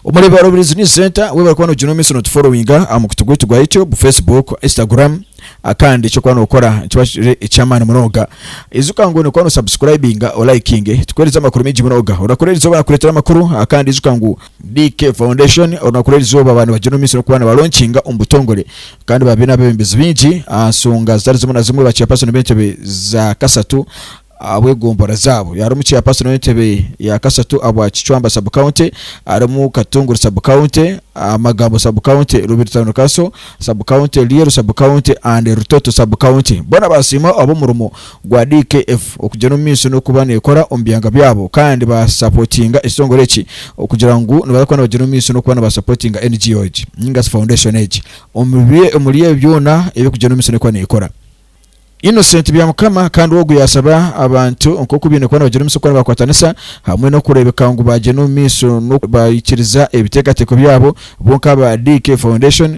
Omureeba wa Rubirizi News Centre we barikuba noogira omumiisho nootuforowinga aha mukutu gwaitu gwa YouTube, Facebook, Instagram ah, kandi eky'okuba nookora nikiba kiri eky'amaani munonga. Ijuka ngu nokuba nosabusikurayibinga olayikinge tukuheereze amakuru maingi munonga. Orakora erizooba nakureetera amakuru ah, kandi ijuka ngu BK Foundation orunaku rw'erizooba abaana bagyine omumaisho n'okuba nibalonkinga omu butongore kandi baba baine abebembezi baingi aha nsonga zitari zimwe na zimwe ba chairperson b'entebe za kasatu abw'egombora zaabo harimu chairperson w'entebe ya kasatu abwa Kicwamba sub county harimu Katunguru sub county Magambo sub county Rubiri town council sub county Lyeru sub county and Rutoto sub county boona basiima ab'omurimo gwa DKF okugyera omu maisho n'okuba nekora omu byanga byabo kandi ba supportinga ekitongore eki okugira ngu nibaza kuba nibagyera omu maisho n'okuba niba supportinga NGO egi ninga shi foundation egi omuri ebyo byona ebi ekugyera omu maisho n'ekuba nekora. Innocent Byamukama kandi ogu yasaba abantu nk'oku baine kuba nibagyera omu maisho kuba nibakwatanisa hamwe n'okurebeka ngu bagyenda omu maisho n'oku baikiriza ebitekateko byabo bo nk'aba DKF Foundation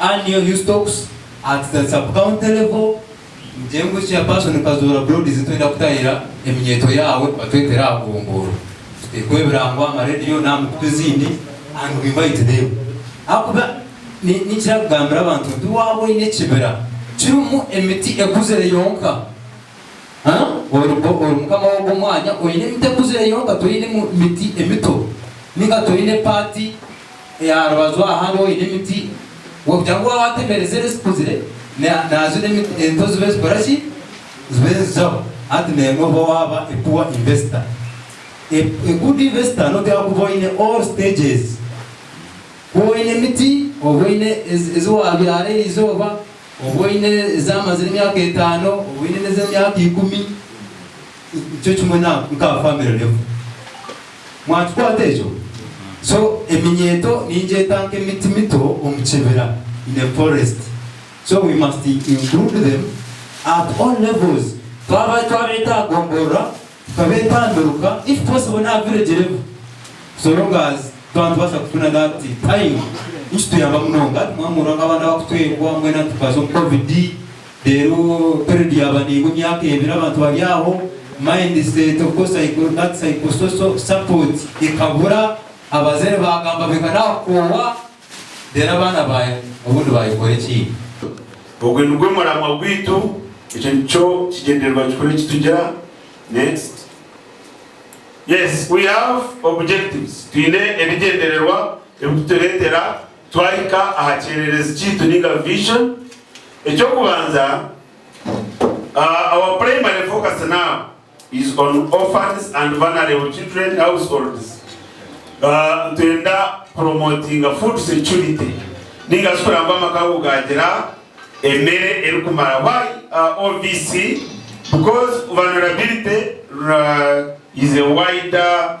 Annual New Stocks Act that Sub-County Level, Ngyee ngu Chairperson Kazoora Broad zi twenda kutahira eminyeeto yaawe batwetere aha gombooro tuteekweho ebirango aha ma radio n'aha mikutu ezindi and we invite them ahakuba ni nikira kugambira abantu nti waaba oine ekibira kirimu emiti ekuzire yonka huh ori bo ori mukama w'ogwo mwanya oine emiti ekuzire yonka toine miti emito ninga toine part Aha rubaju aha hariho oine emiti, wagira ngu waaba watemeire ziriya ezikuzire, naajura emiti ento zibe nizikora ki? Zibe nizizaho. Hati naimwe oba waaba a poor investor. A good investor nooteekaho kuba oine all stages. Kuba oine emiti, oba oine ezi waabyara eri izooba, oba oine ezaamazire emyaka etaano, oba oine n'ez'emyaka ikumi, nikyo kimwe na family level. Mwakikwata ekyo? So, eminyeeto ningyeta nk'emiti mito omu kibira, in a forest. So, we must include them at all levels. Twaba, twabeeta aha gomborora, tukabeeta aha miruka, if possible n'aha village level. So long as twaba nitubaasa kufuna that time, nikituyamba munonga. Hati mwamuurwa nk'abaana abakutwengwa, mbwenu hati tukaza omu Covid. Reero period yaaba neingwa emyaka ebiri abantu bari aho, mindset of course psycho that psychosocial support ekabura, abazaire baagamba beka naakukoowa, reero abaana baaye obundi baayekora ekindi. Ogwe nigwe muramwa gwaitu, ekyo nikyo kigyendererwa kikuru eki tugira. Next. Yes we have objectives, twine ebigyendererwa ebi tureetera twahika aha kyererezi kyaitu nainga vision. Eky'okubanza, our primary focus now is on orphans and vulnerable children households. Nitwenda kupromotinga food security ninga shi kureba ngu amaka ago gaagira emere erikumara. Why OVC? Because vulnerability is a wider.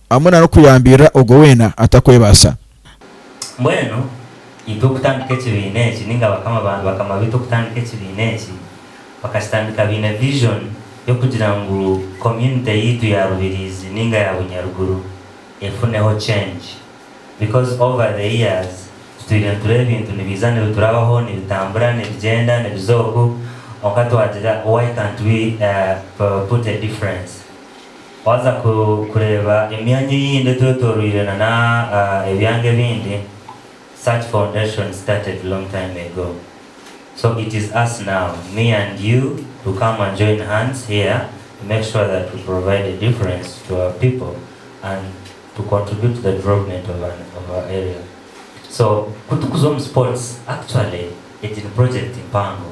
hamwe na n'okuyambirira ogwo weena atakwebaasa. Mbwenu itwe okutandika ekibiina eki, ninga bakama ba bakama baitu okutandika ekibiina eki, bakakitandika baine vision y'okugira ngu community yaitu ya Rubirizi ninga ya Bunyaruguru efuneho change because over the years tutwire nitureba ebintu nibiija nibiturabaho, nibitambura, nibigyenda, nibiza oku, kwonka twagira why can't we put a difference. Waaza kureeba emyanya eyindi etwetoroire nana ebyanga ebindi, such foundation started long time ago so it is us now me and you to come and join hands here to make sure that we provide a difference to our people and to contribute to the development of our area so kutukuza omu sports actually egi ni project mpango.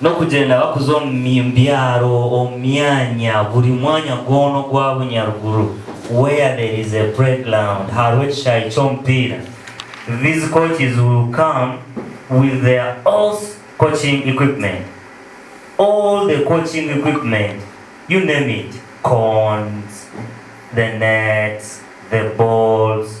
N'okugyenda bakuza omu byaro, omu myanya, buri mwanya gwona ogwa bunyaruguru, where there is a playground, hariho ekishaayi ky'omupiira, these coaches will come with their all coaching equipment, all the coaching equipment, you name it, cones, the nets, the balls,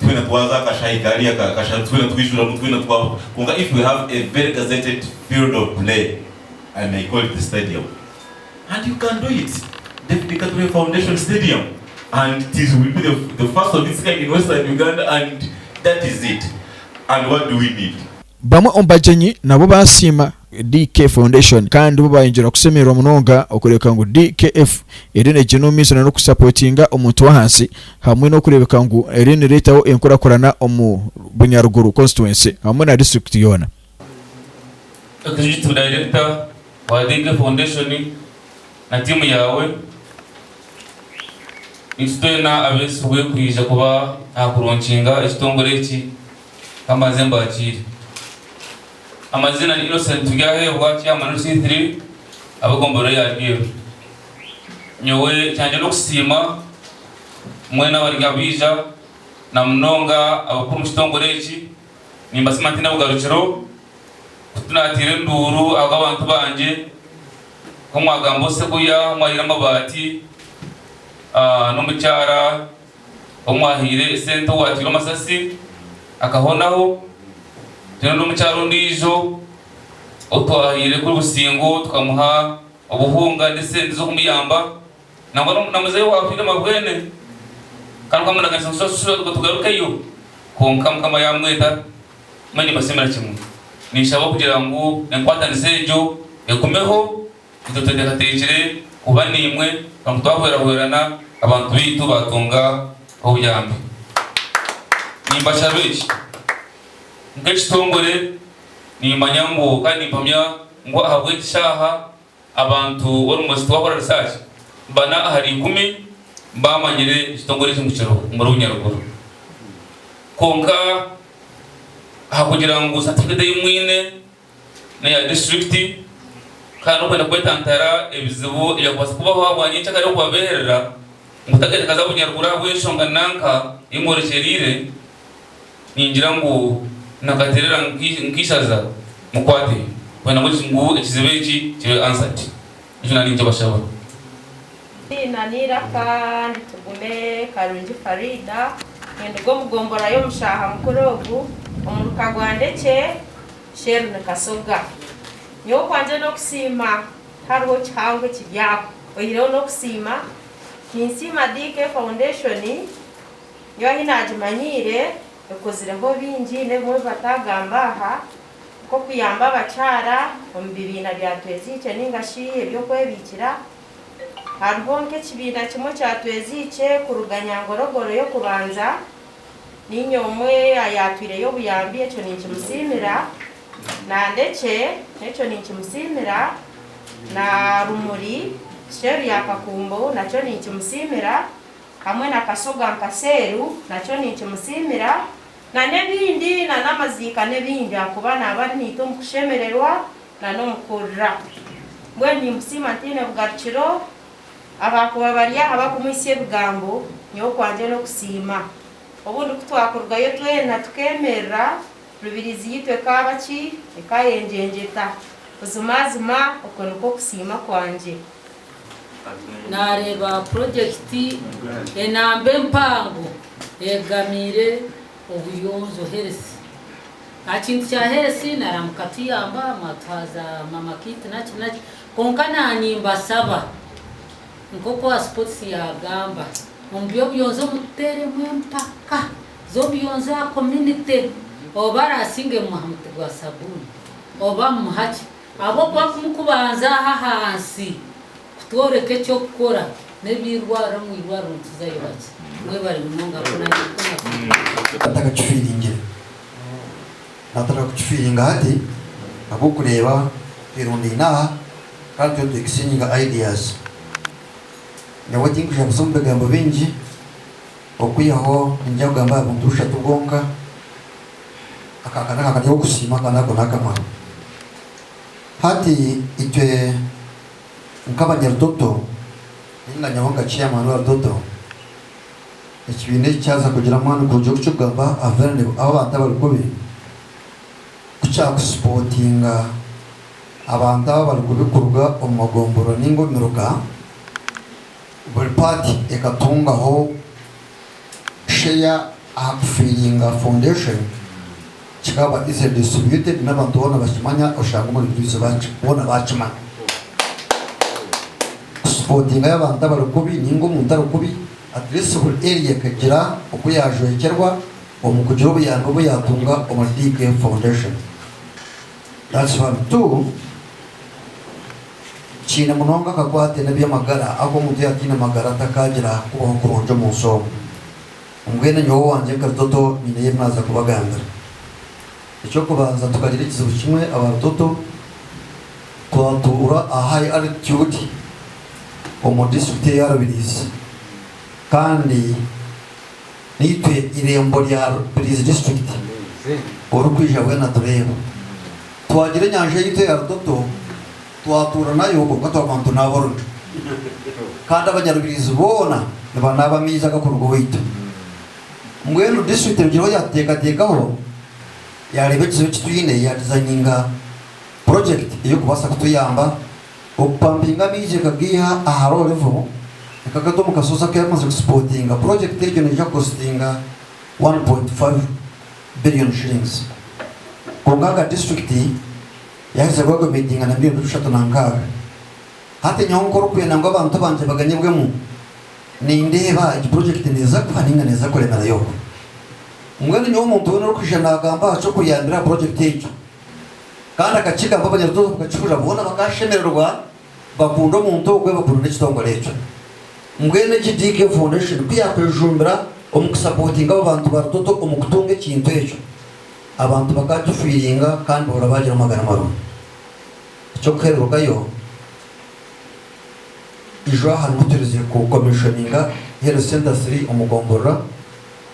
twena twaza akashayi kari aka kasharu twena twijuramu twena twaba kwonka if we have a very gazetted field of play I may call it the stadium and you can do it David Katurebe foundation stadium and it is will be the the first of its kind in western Uganda and that is it and what do we need? Bamwe omu bagyenyi nabo baasiima DK Foundation kandi bo bayongyera kusemererwa munonga okureebeka ngu DKF eriyo neegyenda omu maiso nana kusapotinga omuntu w'ahansi hamwe n'okureebeka ngu eriyo nereetaho enkurakurana omu Bunyaruguru Constituency hamwe na District yoona. Ekijutsu Director wa DK Foundation na tiimu yaawe, niitwe twena abeesigwe kwija kuba aha kurunkinga ekitongore eki, ka mbanze mbaakiire. Amazina ni Innocent Turyaheebwa chairman wa C3 ab'egomborora ya Rwiru. Nyowe ekyangye n'okusiima mwena abari abaija na munonga abakuru omu kitongore eki. Nimbasiima ntaine bugarukiro ku tunateera enduuru ahabw'abantu bangye ku mwagamba Oseguya omu ahaire amabaati n'omukyara Omwahaire esente owateire omasasi akahonaho, twine n'omukyara ondiijo otwahaire kuri Busingo tukamuha obuhunga n'esente z'okumuyamba nangwa na muzeeyi owafiire mabwene kandi twamunaganisa ngu shashura ngu tugarukeyo kwonka Mukama yamweta. Mbwenu nimbashemera kimwe. Ninshaba kugira ngu enkwatanisa egyo egumeho Itwe twetekateekire kuba naimwe kwonka twahwerahwerana abantu baitu baatunga obuyambi. Nimbashaba eki, Nk'ekitongore nimmanya ngu kandi nimpamya ngu ahabw'eki shaaha abantu orumwe shi twakora risaaki bana ahari ikumi baamanyire ekitongore eki ngu kiriho omuri Bunyaruguru. Kwonka ahakugira ngu satifiketi ei mwine, n'eya disiturikiti kandi n'okwenda kwetantara ebizibu ebyakubaasa kubaho ahabwa nyenkyakare nari okubabeerera ngu takaitakaza bunyaruguru ahabw'enshonga nanka ei mworekyereire, ningira ngu nakateerera nk'eishaza mukwate kwenda ngu ekizibu eki kibe answered. Ekyo nari nkibashaba. Eiziina n'eiraka ndi Tugume Karungi Faridah. Ninduga omu gombora y'omu shaaha mukuru ogu omu muka gwa Ndekye Sherlyn Kasoga. Nyowe okwangye n'okusiima tihariho kihango ekiri aho oyihireho n'okusiima. Ninsiima DK Foundation nyowe ahi naagimanyiire ekozireho bingi n'ebimwe ebi bataagamba aha. nk'okuyamba abakyara omu bibiina bya Tweziikye nainga shi eby'okwebiikira. Hariho nk'ekibiina kimwe kya Tweziikye kuruga Nyangorogoro y'okubanza. Niinye omwe ayaatwireyo obuyambi, ekyo ninkimusiimira. Na Ndekye n'ekyo ninkimusiimira. Na Rumuri, Sheeru ya Kakumbo, nakyo ninkimusiimira. Hamwe na Kasoga Nkaseeru, nakyo ninkimusiimira. Na n'ebindi, na n'amaziika n'ebindi, ahakuba naaba ari naitwe omu kushemererwa na n'omu kurira. Mbwenu nimusiima ntaine bugarukiro, abakuba bari aha bakumuhitsya ebigambo, nyowe okwangye n'okusiima. Obundi ku twakurugayo twena tukemerera, Rubirizi yaitu ekaaba ki? Ekaayengyengeta. Buzimazima okwo nikwo kusiima kwangye. naareeba purojekiti enamba empango eyegamiire obuyonjo, HERES. Aha kintu kya HERES naramuka tuyamba mwatuha za mama kit naki naki kwonka na nimbashaba nk'oku owa sipotisi yaagamba omu by'obuyonjo muteeremu empaka z'obuyonjo aha kominite oba arasinge mumuha omuti gwa sabuuni oba mumuha ki Ahabw'okuba timukubanza aha ahansi kutworeka eky'okukora n'eby'eirwariro omu irwariro nituzayo bakye. Mwebare munonga nk'oku naanye ndi kubaza. Batakakifiiringire. Nibatanira kukifiiringa hati ahabw'okureeba twirundaine aha kandi turiyo nitwekisingyinga ideas. Nyowe tinkwija kuza omu bigambo bingi okwihaho ninyija kugamba aha bintu bushatu bwonka Aka ka n'aka kari okusiima kandi ako n'akamaro. Hati itwe nk'Abanyarutoto nainga nyowe nka chairman wa Rutoto, ekibiina eki kyaza kugira amaani kurugya oku kirikugamba Averlib abu abantu abari kubi, ku kyakusipotinga abantu abu abari kubi kuruga omu magomborora nainga omu miruka, buri part ekatungaho. Share aha Kufiringa Foundation kikaba easily distributed n'abantu boona bakimanya oshanga omuri Bujuuzi boona bakimanya. Kusupotingayo abantu abari kubi ninga omuntu ari kubi at least buri area ekagira oku yajwekyerwa omu kugira obuyambi obu yatunga omuri DK Foundation. Ekibarutu kiine munonga akakwate n'eby'amagara agu omuntu yaataine magara atakaagira kubaho kurungi omu nsi omu. Mbwenu nyowe owangye nka Rutoto nyineyo ebi naaza kubagambira. Eky'okubanza tukagira ekizibu kimwe aba Rutoto, twatuura aha high altitude omu disiturikiti eya Rubirizi kandi Naitwe eirembo rya Rubirizi District orikwija bwena atureeba. Twagira enyanja yaitu eya Rutoto twatuura nayo kwonka twaguma nitunaaba orujwa. Kandi Abanyarubirizi boona nibanaaba amaizi agakuruga owaitu. Mbwenu District erugireho yatuteekateekaho yaareeba ekizibu eki twine yaadizayininga purojekiti ey'okubaasa kutuyamba Okupampinga amaizi ekagaiha aha low level ekagata omu kashozi aku yamaze kusipotinga. Purojekiti egyo neija kukositinga K1.5 billion. Kwonka nka disiturikiti yaheza kwekomitinga na miriyoni bushatu na nkaaga. Hati nyowe nk'orikwenda ngu abantu bangye baganyibwemu, nindeeba egi purojekiti neeza kufa nainga neeza kuremerayo. Mbwenu nyowe omuntu weena orikwija naagamba aha ky'okuyambira aha purojekiti egyo, Kandi akakigamba abanyarutooro obu kakihurira boona bakashemererwa bakunda omuntu ogwe bakunda n'ekitongore ekyo. Mbwenu egi DK Foundation ku yakwejumbira omu kusapotinga abo bantu ba Rutoto omu kutunga ekintu ekyo abantu bakakifiiringa kandi boona baagira amagara marungi. Eky'okuherurukayo, eijwaha nibwo turize ku commissioninga Health Centre Three omu Gomborora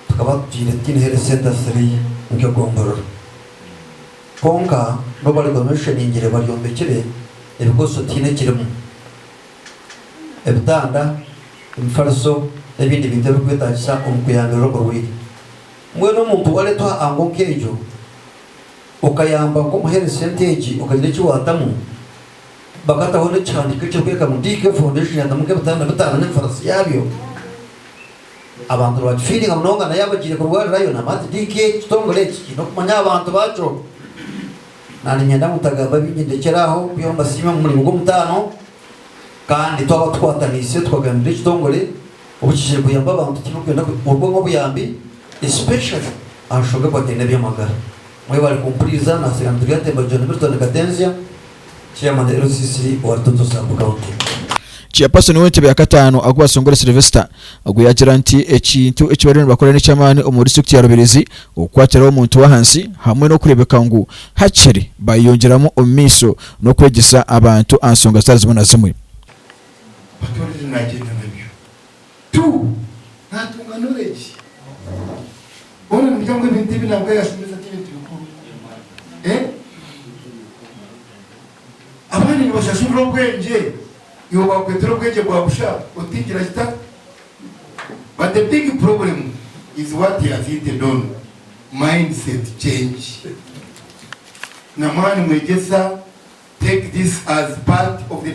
tukaba tutaire tutaine Health Centre Three nk'e Gomborora. Kwonka n'obu bariguma ebisherengire baryombekire ebikozeswa tihaine ekirimu, ebitanda, emifariso, n'ebindi bintu ebirikwetaagisa omu kuyambirira oburwaire. Mbwenu omuntu waareetwa aha ngo nk'egyo, okayamba nk'omuheereza sente egi, okagira eki waatamu, bakataho n'ekihandiiko ekirikworeka ngu DK Foundation yaatamu nk'ebitanda bitaano n'emifariso yaabyo. Abantu nibakifiiringa munonga nayo abagiire kurwarirayo. Namanzi DK, Ekitongore eki kiine okumanya aha bantu baakyo. Naaniinyenda ngu mutagamba bingi ndekyere aho kubihaho mbasiime omu muringo gw'omutaano kandi twaba tukwataniise tukagambira ekitongore obukigire kuyamba abantu tibikwenda kubikurwamu obuyambi especially aha nshonga ekwataine n'ebyamagara. Mwebale kumpuriza nasiinga nitugira nti Embajura ni Milton Katenzya, Chairman LCC owa Rutoto Sub County. Chairperson w'entebe ya kataano Agua Songore Sylvester ogwo yaagira nti ekintu eki bariyo nibakora n'eky'amaani omu disiturikiti ya Rubirizi okukwatiraho omuntu w'ahansi hamwe n'okureebeka ngu hakiri baayeyongyeramu omu maisho n'okwegyesa abantu aha nsonga zitari zimwe na zimwe. Tu natunga knowledge boona nimugira ngu ebintu ebi nabwe yashomesa tibintu bikuru eh abandi nibashashurira obwengye iwe bakwetera obwengye bwa busha otigira kita but the big problem is what he has hinted on mindset change na mwani mwegyesa take this as part of the